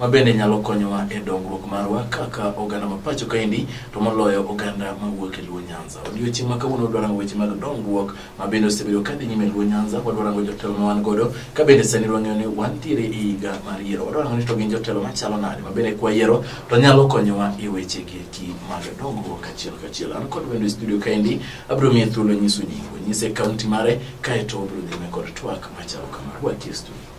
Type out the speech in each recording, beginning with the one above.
ma bende nyalo konyowa e dongruok marwa kaka oganda ma pacho kaendi to moloyo oganda mawuok e Luo Nyanza. Odiochieng' ma kawuono wadwa rango weche mag dongruok ma bende osebedo ka dhi nyime Luo Nyanza, wadwa rango jotelo ma wan godo ka bende sani wang'eyo ni wantiere e higa mar yiero. Wadwa rango ni to gin jotelo machalo nade ma bende kwayiero to nyalo konyowa e weche gi eki mag dongruok kachiel kachiel. An kod wendo e studio kaendi abiro miye thuolo nyiso nyingo, nyise kaunti mare kaeto obiro nyime kod twak machalo kama. Wakie studio.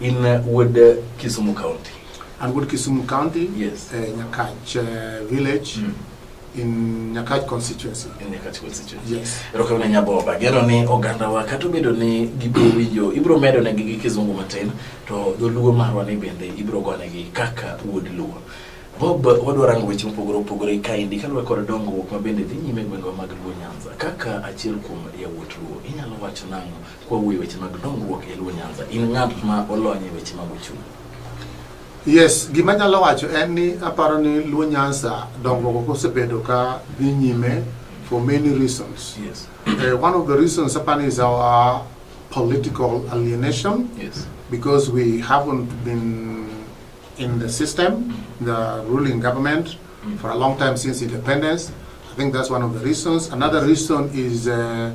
In uh, Wood, uh, Kisumu County. And Wood, Kisumu County. Yes. Uh, Nyakach uh, Village. Mm. in Nyakach constituency. In Nyakach constituency. Yes. Erokamna Nyaboba, gero ni oganda wa kata obedo ni gibiro winjo, ibiro medo ne gi kizungu matin, to dholuo marwa ni bende ibiro gone gi kaka wuod luo. Bob, wadwa rango weche mopogore opogore kaendi kaluwore kod dongruok ma bende dhi nyime gwengwa mag Luo Nyanza. Kaka achiel kuom yawuot Luo, inyalo wacho nang'o Kwawuoyo e weche mag dongruok e Luo Nyanza, in ng'at ma olony e weche mag uchumi. Yes, gima nyalo wacho en ni aparo ni Luo Nyanza dongruok osebedo ka dhi nyime for many reasons. Yes. Uh, one of the reasons apani is our political alienation. Yes. Because we haven't been in the system, the ruling government, mm. for a long time since independence. I think that's one of the reasons. Another reason is uh,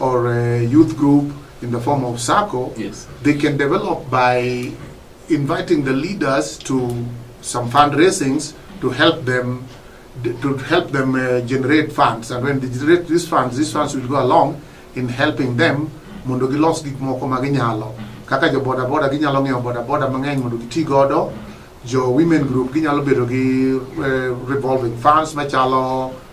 or a youth group in the form of SACCO, yes. they can develop by inviting the leaders to some fundraisings to help them to help them uh, generate funds and when they generate these funds these funds will go along in helping them mondo gilos gik moko ma ginyalo kaka jo boda boda ginyalo ng'iewo boda boda mang'eny mondo giti godo jo women group ginyalo bedo gi uh, revolving funds machalo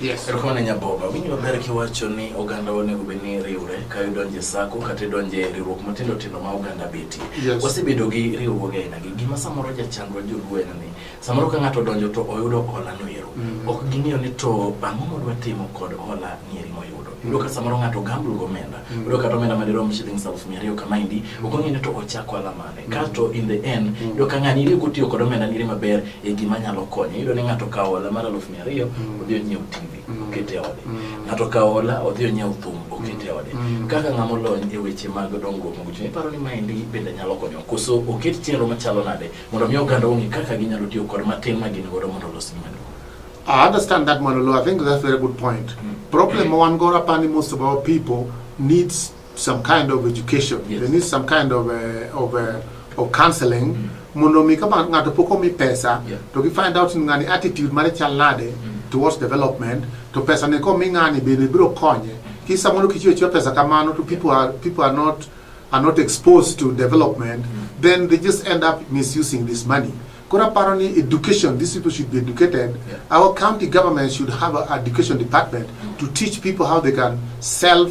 Yes. Erokamano Nyaboba. Winjo maber kiwacho ni oganda onego bed ni riwre ka idonjo e sako kata idonjo e riwruok matindo tindo ma oganda betie. Yes. Wasebedo gi riwruoge aina gi gima samoro jachandwa joluo en ni samoro ka ng'ato odonjo to oyudo hola no ero. Mm. Ok ging'eyo ni to ang'o modwa timo kod hola nieri moyudo. Mm. Yudo ka samoro ng'ato gamble gomenda. Mm. Yudo kata omenda madirom shillings aluf mia ariyo kama indi. Mm. Ok ong'eyo ni to ochak ohala mane. kasto in the end mm. iyudo ka ng'ani iriyo kotiyo kod omenda nire maber e gima nyalo konye iyudo ni ng'ato kawo hola mar aluf mia ariyo mm. odhi onyiew tv mm. oket e ode ng'ato kawo hola odhi onyiew thum oket e ode kaka ng'ama olony e weche mag dongruok mag uchumi iparo ni maendi bende nyalo konyo koso oket chenro machalo nade mondo mi oganda ong'e kaka ginyalo tiyo kod matin ma gin godo mondo olos mwandu I understand that Manolo. I think that's a very good point. Mm. Problem one go up and most of our people needs some kind of education yes. they need some kind of a, uh, of a, uh, of counseling mm. mondo mi ka ng'ato pok omi pesa yeah. to gi find out ngani attitude mare chal nade mm. towards development to pesa ne komi ng'ani bende biro konye kisa mondo kichiwo chiwo pesa kamano to people are, people are not are not exposed to development mm. then they just end up misusing this money koro aparo ni education these people should be educated yeah. our county government should have an education department mm. to teach people how they can self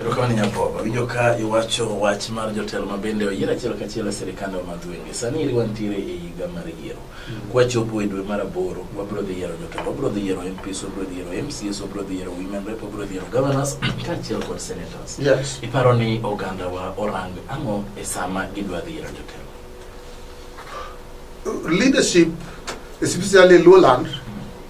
Erokamano Nyabobo, winjo ka iwacho wach mar jotelo ma bende oyier achiel kachiel e sirikande ma madhwenge. Sani eri wantiere e higa mar yiero. Mm. Kwachopo e dwe mar aboro, wabro dhi yiero jotelo, wabro dhi yiero MPs, wabro dhi yiero MCs, wabro dhi yiero women rep, wabro dhi yiero governors kaachiel kod senators. Yes. Iparo ni oganda wa orang ang'o e sama gidwa dhi yiero jotelo? Leadership, especially Lowland,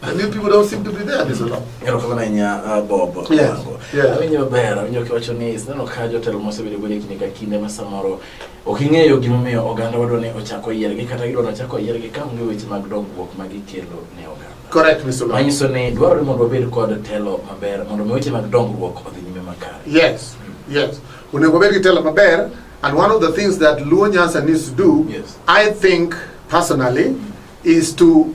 And you people don't seem to be there, Mr. Law. Ngero kama na nya uh, Bob. Yes. Yeah. Awenye babera, awenye kiwacho ni sinano kajo telo mose bile gwele kinika kinde masamoro. Oking'eyo gimomiyo oganda wadwa ni ochako yiergi kata gidwa nochako yiergi ka onge weche mag dongruok ma gikelo ne oganda. Correct, Mr. Law. Manyiso ni dwarore mondo wabed kod telo maber mondo mi weche mag dongruok odhi nyime makare. Yes, yes. Onego wabed gi telo maber and one of the things that Luo Nyanza needs to do, yes. I think personally, is to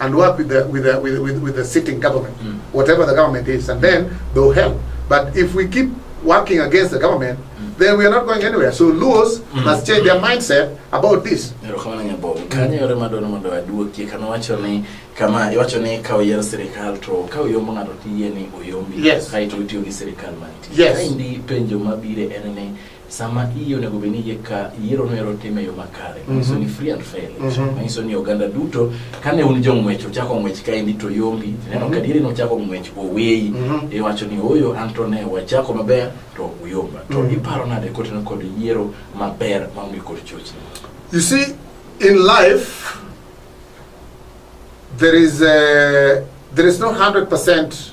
and work with the with the with, with, with the sitting government, mm. whatever the government is, and then they'll help. But if we keep working against the government, mm. then we are not going anywhere. So Luos mm. must change their mindset about this. kama iwacho ni ka oyier sirikal to ka oyombo ng'ato tiyie ni oyombi yes. kae to itiyo gi sirikal mantie yes. kaendi penjo mabire en ni sama iyi onego bed ni yie ka yiero noero time yo makare mhm. manyiso ni free and fair election mhm. manyiso ni oganda duto kane un jong'wech ochako ng'wech kaendi to yombi neno mhm. kadieri nochako ng'wech oweyi iwacho ni oyo an to ne wachako maber to uyomba to iparo nade koteno kod yiero maber maonge kod chochni you see in life there is a, there is no 100%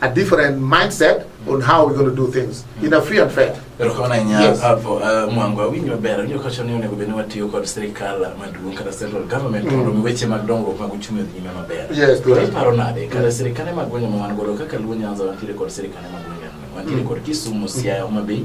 a different mindset on how we're going to do things in a free and fair. Yes. hapo uh, mwangu awinji maber awinjo kawacho ni onego bed ni watiyo kod sirikal maduong' kata central government mm. mondo mi weche mag dongruok mag uchumi odhi nyime maber. Yes, correct. Iparo nade kata mm. sirikane mag gwenge ma wan godo kaka Luo Nyanza wantiere kod sirikane mag gwenge wantiere mm. kod Kisumu, Siaya, Homa Bay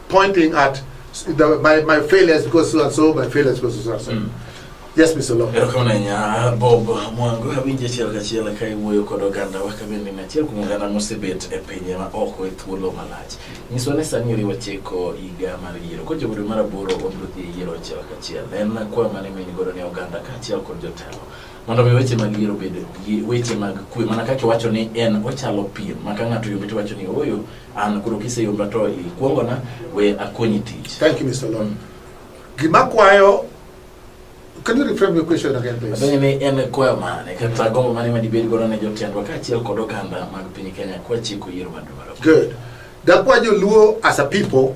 pointing at the, my, my failures because so and so, my failures because so and so. Mm. Yes, Mr. Law. Erokonanya Bob Mwangu abinje chiel kachiel ka iwuoyo kod oganda wa ka bende nachiel kuom oganda mosebet e pinje ma oko e thuolo malach. Nyiswa ni sani oriwo chiko higa mar yiero. Kod jobiro mar aboro wabiro dhi e yiero achiel kachiel. En kwa mane mini godo ne oganda kaachiel kod jotelo. Mondo mi weche mag yiero bed weche mag kwe mana kaka iwacho ni en ochalo piem ma ka ng'ato yombi to wacho ni ooyo An koro kiseyomba to ikuongona we akonyi tich. Thank you Mr. Lon. Gima kwayo Can you reframe your question again, please? Adonye ni en kwayo mane kata gombo mane ma dibed godo ne jotendwa kaachiel kod oganda mag piny Kenya kwa chiko yiero madwaro. Good. Dakwa joluo as a people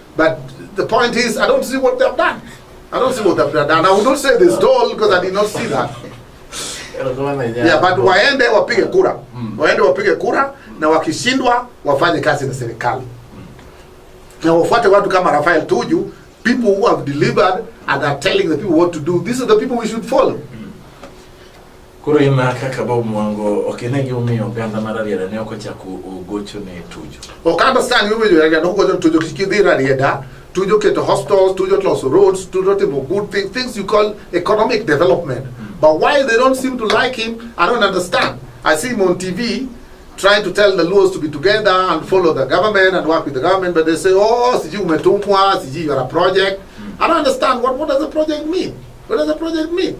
But the point is, I don't see what they've done. I don't see what they've done. And I would not say they stole because I did not see that. Yeah, but waende wapige kura. Mm. Waende wapige kura na wakishindwa wafanye kazi na serikali. Mm. Na wafuate watu kama Rafael Tuju, people who have delivered and are telling the people what to do. These are the people we should follow. Mm. Koro ima kaka Bob Mwango ok ine gimomiyo oganda mar Rarieda ne ok ochako ogocho ne Tuju. Ok understand gimomiyo Rarieda ne ok ogocho ne Tuju kik idhi Rarieda Tuju keto hostels, Tuju loso roads, Tuju timo good things, things you call economic development. Mm. But why they don't seem to like him, I don't understand. I see him on TV trying to tell the Luos to be together and follow the government and work with the government, but they say, oh, siji umetumwa, siji you are a project. Mm. I don't understand. What, what does a project mean? What does a project mean?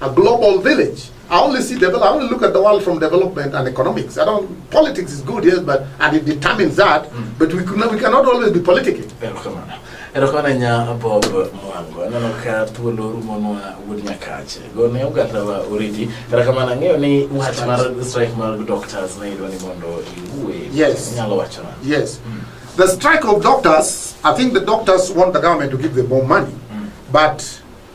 A global village. I only see develop. I only look at the world from development and economics. I don't. Politics is good, yes, but and it determines that. Mm. But we could not, we cannot always be politicking. erokamana nya bob mwango aneno ka thuolo rumonwa wuod nyakache gone ogatawa oriti erokamana ang'eyo ni wach mar strike mar doctors ne idwa ni mondo iwuwe yes. nyalo wachona yes mm. the strike of doctors i think the doctors want the government to give them more money mm. but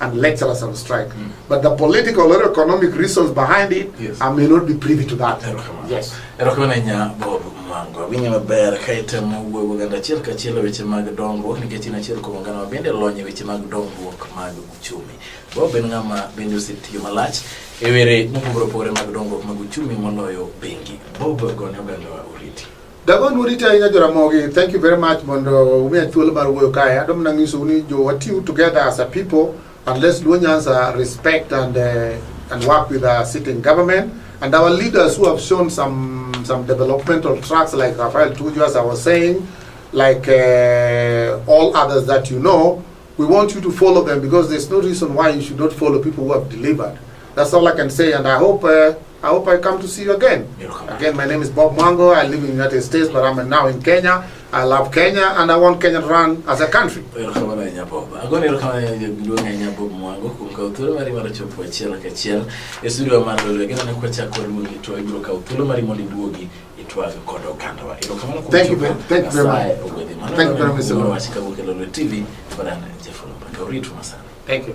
and lecture us on strike. Mm. But the political or economic reasons behind it, yes. I may not be privy to that. Yes. Mangwa winyo maber ka itemo wuoyo oganda achiel kachiel e weche mag dongruok nikech in achiel kuom oganda ma bende lony e weche mag dongruok mag uchumi. Bob en ng'ama bende osetiyo malach e were mopogore opogore mag dongruok mag uchumi moloyo bengi. Bob gone ogandawa oriti. Dagon urite ahinya joramogi thank you very much mondo umiya thuolo mar wuoyo kae adom nang'iso ni jo watiu together as a people and let's do Nyanza respect and uh, and work with our sitting government and our leaders who have shown some some developmental tracks like Rafael Tuju as I was saying like uh, all others that you know we want you to follow them because there's no reason why you should not follow people who have delivered that's all I can say and I hope uh, I hope I come to see you again. Again, my name is Bob Mango. I live in the United States, but I'm now in Kenya. I love Kenya and I want Kenya to run as a country. itwaga koda oganda wa erokamano kuom thank you very much thank you very much tv barana jefolo mpaka uritu masana thank you